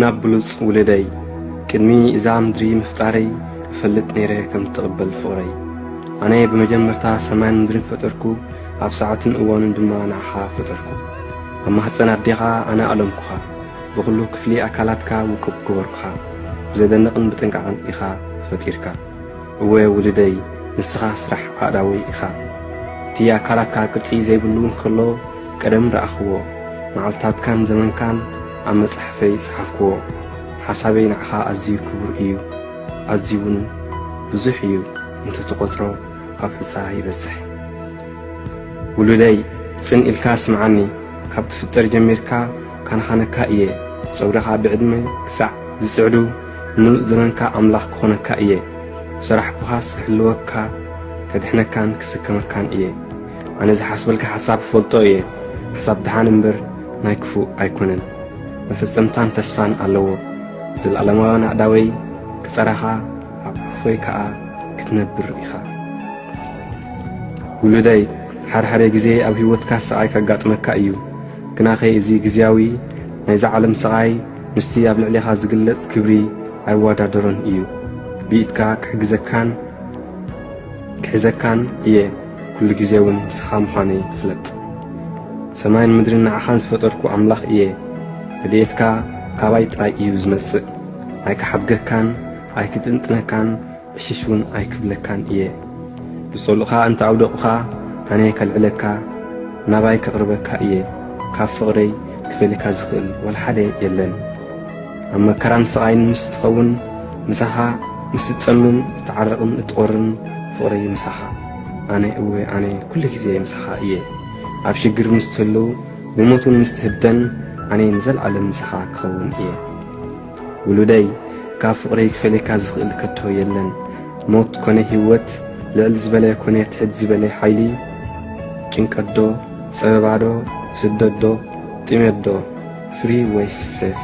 ናብ ብሉጽ ውልደይ ቅድሚ እዛ ምድሪ ምፍጣረይ እፈልጥ ነይረ ከም እትቕበል ፍቕረይ ኣነ ብመጀመርታ ሰማይን ምድርን ፈጠርኩ ኣብ ሰዓትን እዋንን ድማ ንዓኻ ፈጠርኩ ኣብ ማህፀን ኣዴኻ ኣነ ኣለምኩኻ ብኹሉ ክፍሊ ኣካላትካ ውቁብ ገበርኩኻ ብዘደንቕን ብጥንቃቕን ኢኻ ፈጢርካ እወ ውልደይ ንስኻ ስራሕ ኣእዳወይ ኢኻ እቲ ኣካላትካ ቅርጺ ዘይብሉ እንከሎ ቀደም ረኣኽዎ መዓልትታትካን ዘመንካን ኣብ መጻሕፈይ ጸሓፍክዎ። ሓሳበይ ንዓኻ ኣዝዩ ክቡር እዩ፣ ኣዝዩውን ብዙሕ እዩ፣ እንተ ትቖጽሮ ኣብ ሑጻ ይበጽሕ። ውሉደይ ጽን ኢልካ ስምዓኒ፣ ካብ ትፍጠር ጀሚርካ ካንኻነካ እየ፣ ጸጉርኻ ብዕድመ ክሳዕ ዝጽዕዱ ንምሉእ ዘመንካ ኣምላኽ ክኾነካ እየ፣ ሰራሕኩኻስ ክሕልወካ፣ ከድሕነካን ክስከመካን እየ። ኣነ ዝሓስበልካ ሓሳብ እፈልጦ እየ ሓሳብ ደሓን እምበር ናይ ክፉእ ኣይኮነን መፈጸምታን ተስፋን ኣለዎ ዘለኣለማዊ ናእዳወይ ክጸራኻ ኣብ ሕፎይ ከኣ ክትነብር ኢኻ ውሉደይ ሓድሓደ ግዜ ኣብ ህይወትካ ስቓይ ከጋጥመካ እዩ ግናኸ እዚ ግዜያዊ ናይዛ ዓለም ስቓይ ምስቲ ኣብ ልዕሌኻ ዝግለጽ ክብሪ ኣይወዳደሮን እዩ ብኢድካ ክሕግዘካን ክሕዘካን እየ ኩሉ ግዜ እውን ምሳኻ ምዃነይ ፍለጥ። ሰማይን ምድርን ንዓኻን ዝፈጠርኩ ኣምላኽ እየ። ረድኤትካ ካባይ ጥራይ እዩ ዝመጽእ። ኣይክሓድገካን፣ ኣይክጥንጥነካን፣ ዕሽሽ እውን ኣይክብለካን እየ። ዝጸልኡኻ እንተ ኣውደቑኻ፣ ኣነ ከልዕለካ፣ ናባይ ከቕርበካ እየ። ካብ ፍቕረይ ክፈልየካ ዝኽእል ዋላ ሓደ የለን። ኣብ መከራን ስቓይን ምስ ትኸውን ምሳኻ ምስ እትጸምን እትዓርቕን እትቖርን ፍቕረይ ምሳኻ ኣነ እወ ኣነ ኩሉ ግዜ ምሳኻ እየ ኣብ ሽግር ምስ ትህሉ ብሞት እውን ምስ ትህደን ኣነ ንዘለዓለም ምሳኻ ክኸውን እየ ውሉደይ ካብ ፍቕረይ ክፈልየካ ዝኽእል ከቶ የለን ሞት ኮነ ህይወት ልዕል ዝበለ ኮነ ትሕት ዝበለ ሓይሊ ጭንቀት ዶ ጸበባ ዶ ስደት ዶ ጥሜት ዶ ፍሪ ወይስ ሴፍ?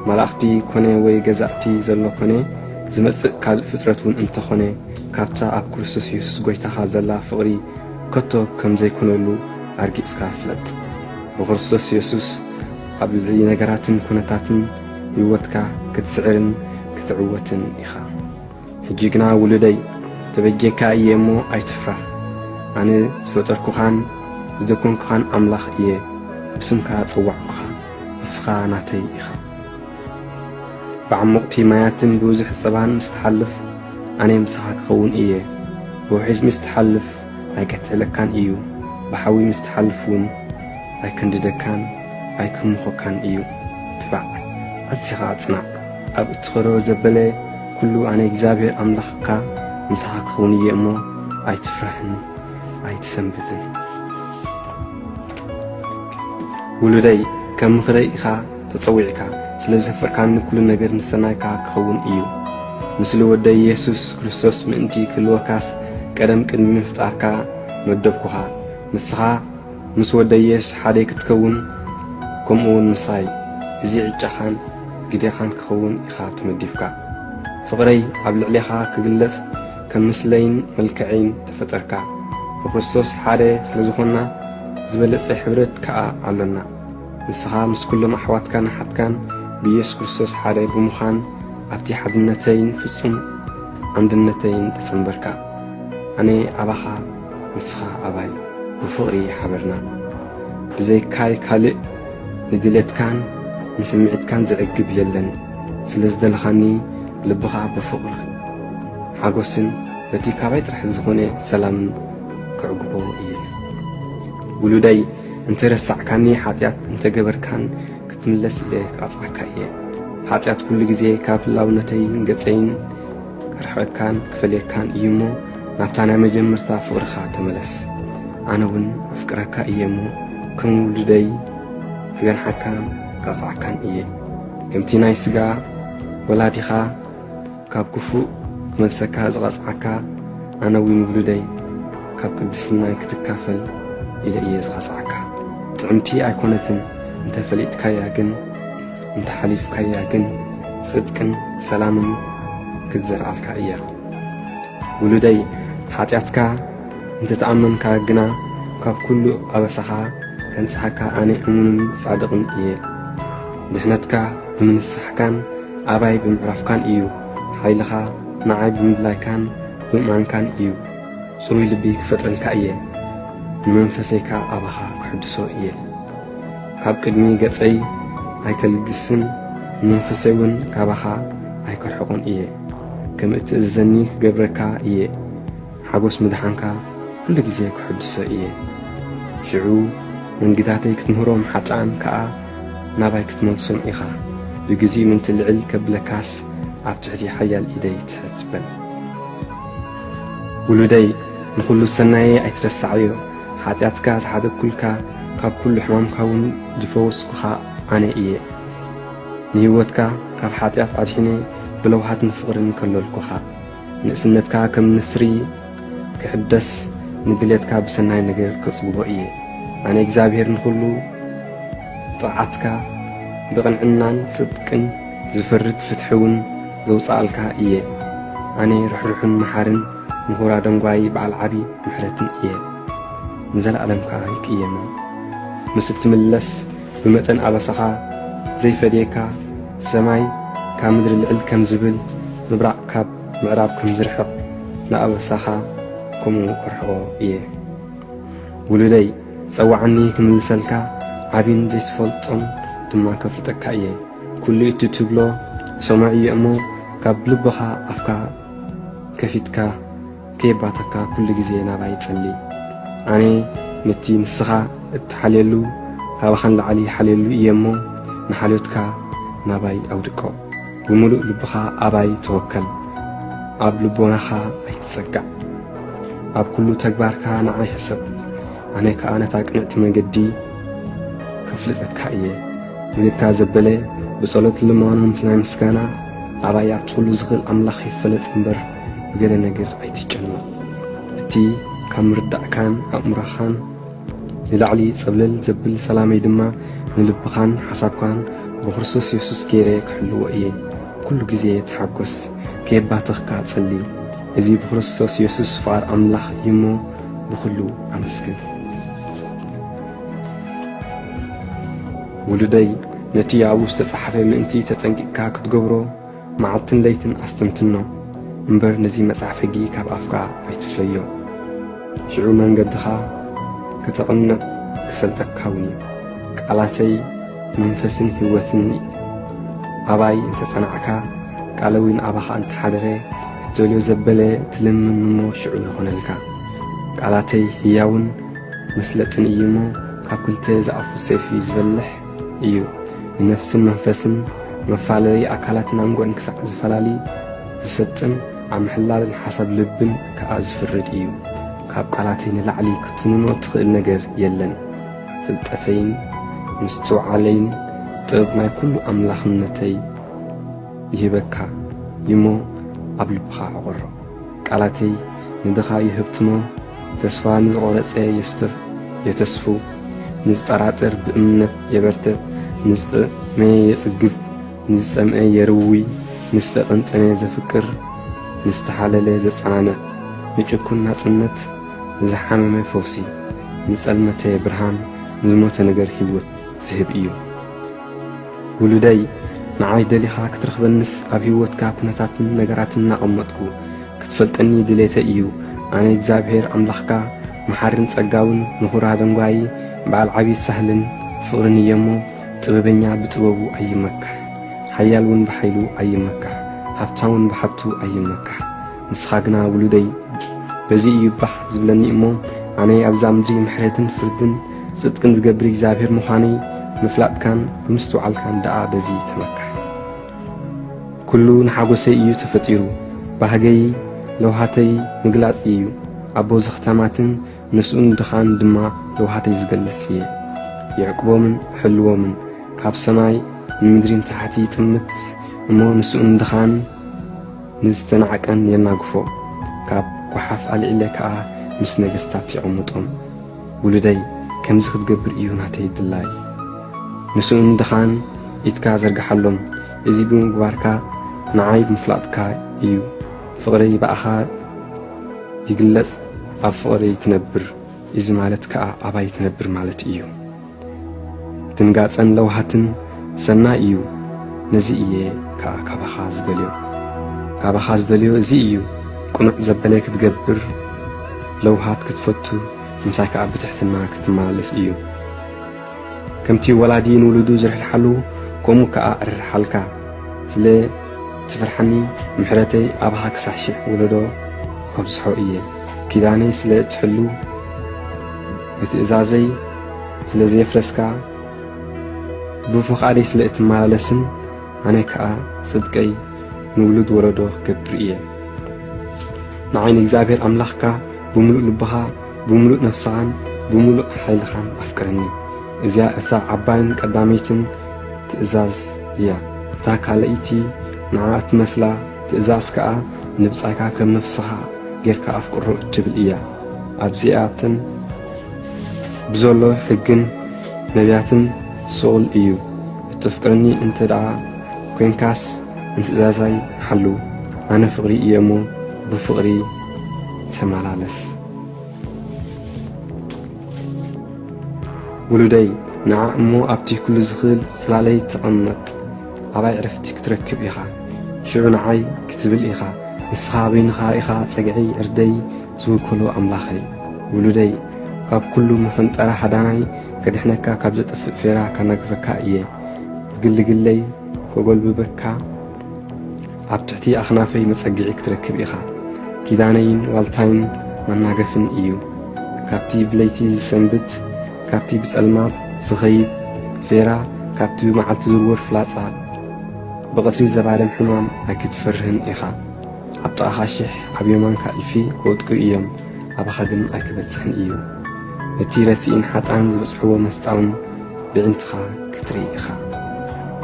መላእኽቲ ኮነ ወይ ገዛእቲ ዘሎ ኮነ ዝመጽእ ካልእ ፍጥረት ውን እንተ ኾነ ካብታ ኣብ ክርስቶስ የሱስ ጎይታኻ ዘላ ፍቕሪ ከቶ ከም ዘይኮነሉ ኣርጊጽካ ፍለጥ። ብክርስቶስ የሱስ ኣብ ልዕሊ ነገራትን ኩነታትን ህይወትካ ክትስዕርን ክትዕወትን ኢኻ። ሕጂ ግና ውሉደይ ተበጅየካ እየ እሞ ኣይትፍራህ፣ ኣነ ዝፈጠርኩኻን ዝደኮንኩኻን ኣምላኽ እየ፣ ብስምካ ዝጸዋዕኩኻ፣ ንስኻ ናተይ ኢኻ። ብዓሞቕቲ ማያትን ብብዙሕ ጸባን ምስ ትሓልፍ፣ ኣነ ምሳኻ ክኸውን እየ፣ ብውሒዝ ምስ ትሓልፍ ኣይከትሕለካን እዩ፣ ብሓዊ ምስ ትሓልፍ እውን ኣይከንድደካን ኣይክምኾካን እዩ። ትባዕ፣ ኣዚኻ ጽናዕ። ኣብ እትኸዶ ዘበለ ኵሉ ኣነ እግዚኣብሄር ኣምላኽካ ምሳኻ ክኸውን እየ እሞ፣ ኣይትፍራህን ኣይትሰንብድን። ውሉደይ፣ ከም ምኽረይ ኢኻ ተጸዊዕካ፣ ስለ ዘፍቅርካኒ ኵሉ ነገር ንሰናይካ ክኸውን እዩ። ምስሊ ወደይ የሱስ ክርስቶስ ምእንቲ ክህልወካስ፣ ቀደም ቅድሚ ምፍጣርካ መደብኩኻ። ንስኻ፣ ምስ ወደየስ ሓደይ ክትከውን ከምኡ ውን ምሳይ እዚ ዕጫኻን ግዴኻን ክኸውን ኢኻ ተመዲብካ ፍቕረይ ኣብ ልዕሌኻ ክግለጽ ከም ምስለይን መልከዐይን ተፈጠርካ ብክርስቶስ ሓደ ስለ ዝኾንና ዝበለጸ ሕብረት ከኣ ኣሎና ንስኻ ምስ ኩሎም ኣሕዋትካን ኣሓትካን ብኢየሱስ ክርስቶስ ሓደ ብምዃን ኣብቲ ሓድነተይን ፍጹም ኣንድነተይን ተጸንበርካ ኣነ ኣባኻ ንስኻ ኣባይ ብፍቕሪ ሓበርና ብዘይካይ ካልእ ንድሌትካን ንስምዒትካን ዝዕግብ የለን ስለዝደለኻኒ ልብኻ ብፍቕሪ ሓጎስን በቲ ካባይ ጥራሕ ዝኾነ ሰላምን ክዕግቦ እየ ውሉደይ እንተረሳዕካኒ ሓጢኣት እንተገበርካን ክትምለስ ኢለ ክቐጽዓካ እየ ሓጢኣት ኩሉ ግዜ ካብ ህላውነተይን ገጸይን ክርሕቐካን ክፈልየካን እዩ እሞ ናብታ ናይ መጀመርታ ፍቕርኻ ተመለስ ኣነ እውን ኣፍቅረካ እየ እሞ ከም ውሉደይ ክገንሓካን ክቐጽዓካን እየ ከምቲ ናይ ስጋ ወላዲኻ ካብ ክፉእ ክመልሰካ ዝቐጽዓካ ኣነ እውን ውሉደይ ካብ ቅድስናይ ክትካፈል ኢለ እየ ዝቐጽዓካ ጥዕምቲ ኣይኮነትን እንተፈሊጥካያ ግን እንተ ሓሊፍካያ ግን ጽድቅን ሰላምን ክትዘርኣልካ እያ። ውሉደይ ሓጢኣትካ እንተ ተኣመንካ ግና ካብ ኩሉ ኣበሳኻ ከንጽሓካ ኣነ እሙንን ጻድቕን እየ። ድሕነትካ ብምንሳሕካን ኣባይ ብምዕራፍካን እዩ። ሓይልኻ ንዓይ ብምድላይካን ብምእማንካን እዩ። ጽሩይ ልቢ ክፈጥረልካ እየ፣ ንመንፈሰይካ ኣባኻ ክሕድሶ እየ። ካብ ቅድሚ ገጸይ ኣይከልግስን፣ ንመንፈሰይውን ካባኻ ኣይከርሕቖን እየ። ከም እትእዝዘኒ ክገብረካ እየ፣ ሓጐስ ምድሓንካ ኵሉ ጊዜ ክሕድሶ እየ። ሽዑ መንግታተይ ክትምህሮም ሓጥኣን ከኣ ናባይ ክትመልሶም ኢኻ፣ ብጊዜኡ ምእንቲ ልዕል ከብለካስ ኣብ ትሕቲ ሓያል ኢደይ ትሕት በል። ውሉደይ፣ ንዅሉ ሰናየይ ኣይትረስዓዮ። ሓጢኣትካ ዝሓደግኩልካ ካብ ኩሉ ሕማምካ እውን ዝፈወስኩኻ ኣነ እየ። ንህይወትካ ካብ ሓጢኣት ኣድሒነ ብለውሃትን ፍቕርን ከለልኩኻ። ንእስነትካ ከም ንስሪ ክሕደስ ንድሌትካ ብሰናይ ነገር ከጽግቦ እየ። ኣነ እግዚኣብሔር ንኹሉ ጥቕዓትካ ብቕንዕናን ጽድቅን ዝፈርድ ፍትሒ እውን ዘውጽኣልካ እየ። ኣነ ርሕሩሕን መሓርን ንኹራ ደንጓዪ በዓል ዓቢ ምሕረቲ እየ ንዘለኣለም ከኣ ይቅየማ ምስ እትምለስ ብመጠን ኣበሳኻ ዘይፈድየካ ሰማይ ካብ ምድሪ ልዕል ከም ዝብል ምብራቕ ካብ ምዕራብ ከም ዝርሕቕ ንኣበሳኻ ከምኡ እርሕቖ እየ ውሉደይ ጸዋዓኒ ክምልሰልካ ዓቢን ዘይትፈልጦን ድማ ከፍልጠካ እየ ኩሉ እቲ ትብሎ ሰማዒ እየ እሞ ካብ ልብኻ ኣፍካ ከፊትካ ከየባተካ ኩሉ ግዜ ናባይ ጸሊ ኣነ ነቲ ንስኻ እትሓልየሉ ካባኻ ንላዕሊ ይሓልየሉ እየ እሞ ንሓልዮትካ ናባይ ኣውድቆ ብምሉእ ልብኻ ኣባይ ተወከል ኣብ ልቦናኻ ኣይትጸጋዕ ኣብ ኩሉ ተግባርካ ንዓይ ሕሰብ ኣነ ከኣ ነታ ቅንዕቲ መንገዲ ከፍልጠካ እየ ንልካ ዘበለ ብጸሎት ልማኖ ምስ ናይ ምስጋና ኣባያ ኩሉ ዝኽእል ኣምላኽ ይፈለጥ እምበር ብገለ ነገር ኣይትጨነቕ። እቲ ካብ ምርዳእካን ኣእምሮኻን ንላዕሊ ጸብለል ዘብል ሰላመይ ድማ ንልብኻን ሓሳብካን ብክርስቶስ የሱስ ገይረ ክሕልዎ እየ። ኩሉ ግዜ ተሓጐስ፣ ከየባተኽካ ጸሊ። እዚ ብክርስቶስ የሱስ ፍቓድ ኣምላኽ እዩ እሞ ብኹሉ ኣመስግን። ውሉደይ ነቲ ኣብኡ ዝተጻሕፈ ምእንቲ ተጠንቂቕካ ክትገብሮ መዓልትን ለይትን ኣስተንትኖ እምበር ነዚ መጽሓፍ ሕጊ ካብ ኣፍካ ኣይትፍለዮ። ሽዑ መንገድኻ ከተቕንዕ ክሰልጠካ እውን እዩ። ቃላተይ መንፈስን ህይወትን እዩ። ኣባይ እንተ ጸናዕካ ቃለዊን ኣባኻ እንተ ሓደረ እትደልዮ ዘበለ ትልምም እሞ ሽዑ ይኾነልካ። ቃላተይ ህያውን መስለጥን እዩ እሞ ካብ ክልተ ዝኣፉ ሰይፊ ዝበልሕ እዩ ንነፍስን መንፈስን መፋለሊ ኣካላትን ኣንጎን ክሳዕ ዝፈላሊ ዝሰጥም ኣብ ምሕላልን ሓሳብ ልብን ከኣ ዝፍርድ እዩ ካብ ቃላተይ ንላዕሊ ክትፍንኖ እትኽእል ነገር የለን ፍልጠተይን ምስትውዓለይን ጥበብ ናይ ኩሉ ኣምላኽነተይ ይህበካ ይሞ ኣብ ልብኻ ዕቑሮ ቃላተይ ንድኻ ይህብትሞ ተስፋ ንዝቖረጸ የስትር የተስፉ፣ ንዝጠራጥር ብእምነት የበርትዕ፣ ንዝጠመየ የጽግብ፣ ንዝጸምአ የርዊ፣ ንዝተጠንጠነ ዘፍቅር፣ ንዝተሓለለ ዘጸናንዕ፣ ንጭኩን ናጽነት፣ ንዝሓመመ ፈውሲ፣ ንጸልመተ ብርሃን፣ ንዝሞተ ነገር ህይወት ዝህብ እዩ። ውሉደይ፣ ንዓይ ደሊኻ ክትረኽበንስ ኣብ ህይወትካ ኩነታትን ነገራትን እናቐመጥኩ፣ ክትፈልጠኒ ድሌተይ እዩ ኣነ እግዚኣብሔር ኣምላኽካ መሓርን ጸጋውን ምኩራ ደንጓዪ በዓል ዓብዪ ሳህልን ፍቅርን እየ እሞ ጥበበኛ ብጥበቡ ኣይመካሕ ሓያል ውን ብሓይሉ ኣይመካሕ ሃብታውን ብሃብቱ ኣይመካሕ ንስኻ ግና ውሉደይ በዚ እዩ ባህ ዝብለኒ እሞ ኣነ ኣብዛ ምድሪ ምሕረትን ፍርድን ጽድቅን ዝገብር እግዚኣብሔር ምዃነይ ምፍላጥካን ብምስትውዓልካን ደኣ በዚ ተመካሕ ኩሉ ንሓጎሰይ እዩ ተፈጢሩ ባህገይ ለውሃተይ ምግላጽ እዩ ኣቦ ዘኽታማትን ንስኡን ድኻን ድማ ለውሃተይ ዝገልጽ እየ የዕቅቦምን ሕልዎምን ካብ ሰማይ ንምድሪን ታሕቲ ጥምት እሞ ንስኡን ድኻን ንዝተናዕቀን የናግፎ ካብ ጓሓፍ ኣልዒለ ከኣ ምስ ነገስታት የቐምጦም ውሉደይ ከምዚ ክትገብር እዩ ናተይ ድላይ ንስኡን ድኻን ኢትካ ዘርግሓሎም እዚ ብምግባርካ ንዓይ ምፍላጥካ እዩ ፍቕረይ ብኣኻ ይግለጽ ኣብ ፍቕረይ ትነብር እዚ ማለት ከኣ ኣባይ ትነብር ማለት እዩ። ድንጋጸን ለውሃትን ሰናይ እዩ ነዚ እየ ከኣ ካባኻ ዝደልዮ ካባኻ ዝደልዮ እዚ እዩ ቅኑዕ ዘበለ ክትገብር ለውሃት ክትፈቱ ምሳይ ከኣ ብትሕትና ክትመላለስ እዩ ከምቲ ወላዲ ንውሉዱ ዝርሕርሓሉ ከምኡ ከኣ እርርሓልካ ስለ ትፍርሓኒ ምሕረተይ ኣብኻ ክሳዕ ሽሕ ወለዶ ከብዝሖ እየ ኪዳነይ ስለ እትሕሉ ንትእዛዘይ ስለ ዘየፍረስካ ብፍቓደይ ስለ እትመላለስን ኣነ ከኣ ጽድቀይ ንውሉድ ወለዶ ክገብር እየ ንዓይ ንእግዚኣብሔር ኣምላኽካ ብምሉእ ልብኻ ብምሉእ ነፍስኻን ብምሉእ ሓይልኻን ኣፍቅረኒ እዚያ እታ ዓባይን ቀዳመይትን ትእዛዝ እያ እታ ካልኣይቲ ንዓ እትመስላ ትእዛዝ ከኣ ንብጻይካ ከም ነፍስኻ ጌርካ ኣፍቅሮ እትብል እያ ኣብዚኣተን ብዘሎ ሕግን ነብያትን ስቑል እዩ። እተፍቅረኒ እንተ ደኣ ኰንካስ ንትእዛዛይ ሓሉ። ኣነ ፍቕሪ እየ እሞ፣ ብፍቕሪ ተመላለስ። ውሉደይ፣ ንዓ እሞ ኣብቲ ኵሉ ዚኽእል ጽላለይ ተቐመጥ። ኣባይ ዕርፍቲ ክትረክብ ኢኻ ሽዑ ንዓይ ክትብል ኢኻ ንስኻ በይንኻ ኢኻ ጸግዒይ ዕርደይ ዝውክሎ ኣምላኸይ ውሉደይ ካብ ኩሉ መፈንጠራ ሃዳናይ ከድሕነካ ካብ ዘጥፍእ ፌራ ካናግፈካ እየ ብግልግለይ ከጎልብበካ ኣብ ትሕቲ ኣኽናፈይ መጸግዒ ክትረክብ ኢኻ። ኪዳነይን ዋልታይን መናገፍን እዩ። ካብቲ ብለይቲ ዝሰንብት፣ ካብቲ ብጸልማት ዝኸይድ ፌራ፣ ካብቲ ብመዓልቲ ዝርወር ፍላጻ፣ ብቐትሪ ዘባርም ሕማም ኣይክትፈርህን ኢኻ። ኣብ ጥቓኻ ሽሕ ኣብ የማንካ እልፊ ክወድቁ እዮም፣ ኣባኻ ግን ኣይክበጽሕን እዩ። ነቲ ረሲእን ሓጥኣን ዝበጽሕዎ መስጣውን ብዒንትኻ ክትርኢ ኢኻ።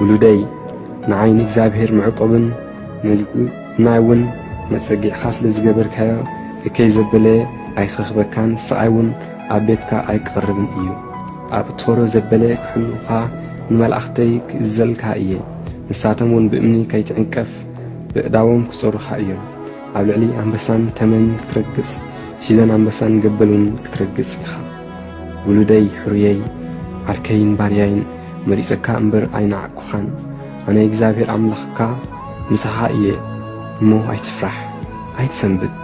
ውሉደይ! ንዓይ ንእግዚኣብሔር መዕቆብን ንልዕልና እውን መጸጊዕካ ስለ ዝገበርካዮ እከይ ዘበለ ኣይክረኽበካን ስቓይ እውን ኣብ ቤትካ ኣይክቐርብን እዩ። ኣብ እትኸዶ ዘበለ ክሕልዉኻ ንመላእኽተይ ክእዘልካ እየ፣ ንሳቶም እውን ብእምኒ ከይትዕንቀፍ በእዳዎም ክጸሩኻ እዮም። ኣብ ልዕሊ ኣንበሳን ተመንን ክትረግጽ፣ ሽደን ኣንበሳን ገበልን እውን ክትረግጽ ኢኻ። ውሉደይ ሕሩየይ ዓርከይን ባርያይን መሪጸካ እምበር ኣይነዓቅኩኻን ኣነ እግዚኣብሔር ኣምላኽካ ምሳኻ እየ እሞ ኣይትፍራሕ ኣይትሰንብት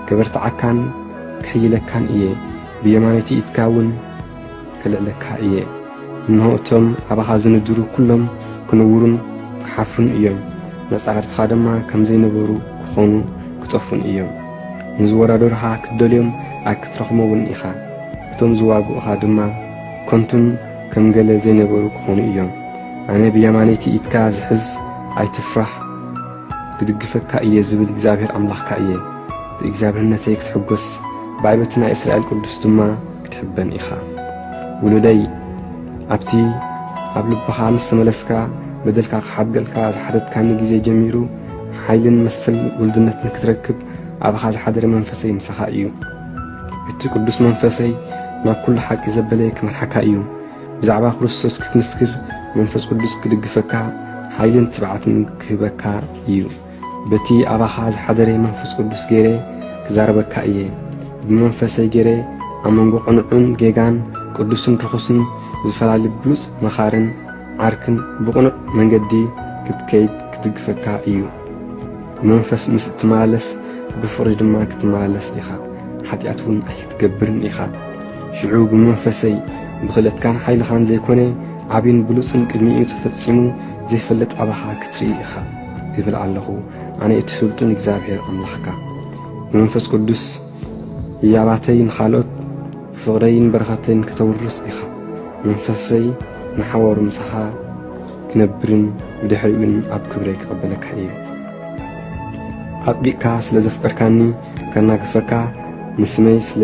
ከበርትዓካን ክሕይለካን እየ ብየማነይቲ ኢድካ እውን ከልዕለካ እየ እንሆ እቶም ኣባኻ ዝንድሩ ኩሎም ክንውሩን ክሓፍሩን እዮም፣ መጻሕርትኻ ድማ ከም ዘይነበሩ ክኾኑ ክጠፉን እዮም። ንዝወዳደሩኻ ክትደልዮም ኣይክትረኽሞውን ኢኻ፣ እቶም ዝዋግኡኻ ድማ ከንቱን ከም ገለ ዘይነበሩ ክኾኑ እዮም። ኣነ ብየማነይቲ ኢድካ ዝሕዝ ኣይትፍራህ ክድግፈካ እየ ዝብል እግዚኣብሔር ኣምላኽካ እየ። ብእግዚኣብሔርነተይ ክትሕጎስ ብዕበቲ ናይ እስራኤል ቅዱስ ድማ ክትሕበን ኢኻ ውሉደይ ኣብቲ ኣብ ልብኻ ምስ ተመለስካ በደልካ ክሓድገልካ ዝሓተትካኒ ግዜ ጀሚሩ ሓይልን መሰል ውልድነት ንክትረክብ ኣብኻ ዝሓደረ መንፈሰይ ምሳኻ እዩ እቲ ቅዱስ መንፈሰይ ናብ ኩሉ ሓቂ ዘበለ ክመርሓካ እዩ ብዛዕባ ክርስቶስ ክትምስክር መንፈስ ቅዱስ ክድግፈካ ሓይልን ትብዓትን ክህበካ እዩ በቲ ኣባኻ ዝሓደረ መንፈስ ቅዱስ ገይረ ክዛረበካ እየ፣ ብመንፈሰይ ገይረ ኣብ መንጎ ቅኑዕን ጌጋን፣ ቅዱስን ርኹስን ዝፈላሊ ብሉጽ መኻርን ዓርክን ብቕኑዕ መንገዲ ክትከይድ ክድግፈካ እዩ። ብመንፈስ ምስ እትመላለስ ብፍቕሪ ድማ ክትመላለስ ኢኻ፣ ሓጢኣት እውን ኣይክትገብርን ኢኻ። ሽዑ ብመንፈሰይ ብኽእለትካን ሓይልኻን ዘይኮነ ዓቢን ብሉጽን ቅድሚኡ ተፈጺሙ ዘይፈልጥ ኣባኻ ክትርኢ ኢኻ። ይብል ኣለኹ ኣነ እቲ ስልጡን እግዚኣብሔር ኣምላኽካ ብመንፈስ ቅዱስ ህያባተይ ንኻልኦት ፍቕረይን በረኸተይን ከተውርስ ኢኻ መንፈሰይ ንሓዋሩ ምሳኻ ክነብርን ብድሕሪኡን ኣብ ክብረይ ክቐበለካ እዩ ኣጥቢቕካ ስለ ዘፍቀርካኒ ከናግፈካ ንስመይ ስለ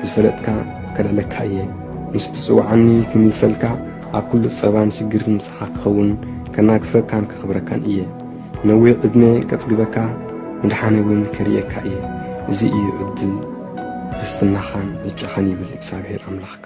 ዝፈለጥካ ከልዕለካ እየ ምስ ትጽውዓኒ ክምልሰልካ ኣብ ኩሉ ጸባን ሽግርን ኢኻ ትኸውን ከናግፈካን ከኽብረካን እየ ነዊሕ ዕድመ ከጽግበካ ምድሓነይ እውን ከርእየካ እየ እዚ እዩ ዕድል ርስትናኻን ዕጫኻን ይብል እግዚኣብሔር ኣምላኽካ